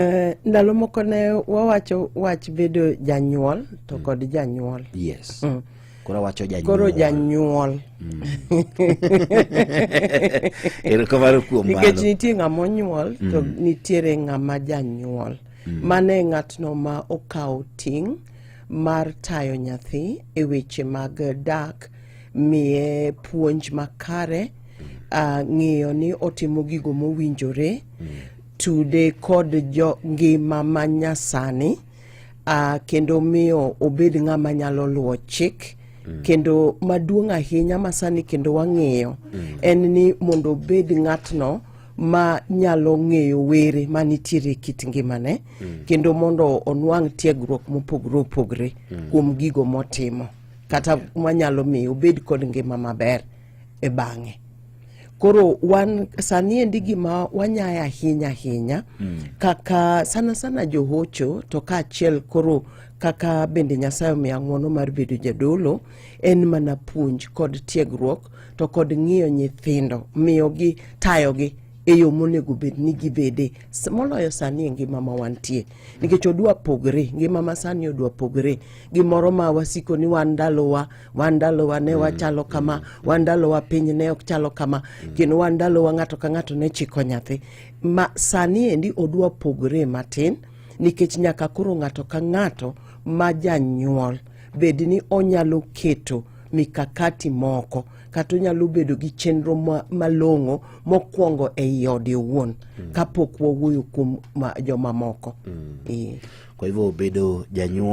Eh, ndalo moko ne wawacho wach bedo janyuol to mm. kod janyuol yes mm. koro wacho janyuol koro janyuol mm. erokamano kuom mano nikech nitie ng'ama onyuol to mm. nitiere ng'ama janyuol mm. mano e ng'atno ma okawo ting' mar tayo nyathi e weche mag dak miye puonj makare mm. uh, ng'iyo ni otimo gigo mowinjore mm. tude kod jo ngima ma nyasani uh, kendo miyo obed ng'ama nyalo luwo chik mm. kendo maduong' ahinya masani kendo wang'eyo mm. en ni mondo obed ng'atno ma nyalo ng'eyo were ma nitiere e kit ngimane mm. kendo mondo onwang' tiegruok mopogore opogore mm. kuom gigo motimo kata manyalo miyo obed kod ngima maber e bang'e Koro wan sani endi gima wanyaye ahinya ahinya mm. kaka sana sana johocho to kaachiel koro kaka bende Nyasaye omiya ng'wono mar bedo jadolo en mana puonj kod tiegruok to kod ng'iyo nyithindo miyogi tayogi e yo monego bed ni gibede moloyo sani e ngima ma wantie nikech odwa pogre ngima ma sani odwa pogre gimoro ma wasiko ni wan ndalowa wandalowa ne mm. wachalo kama wandalowa piny ne ok chalo kama mm. kendo wandalowa ng'ato ka ng'ato ne chiko nyathi ma sani endi odwa pogre matin nikech nyaka koro ng'ato ka ng'ato ma janyuol bed ni onyalo keto mikakati moko kata onyalo bedo gi chenro malong'o mokwongo ei ode owuon mm. kapok wawuoyo kuom jomamoko mm. e. kwa hivyo bedo janyuol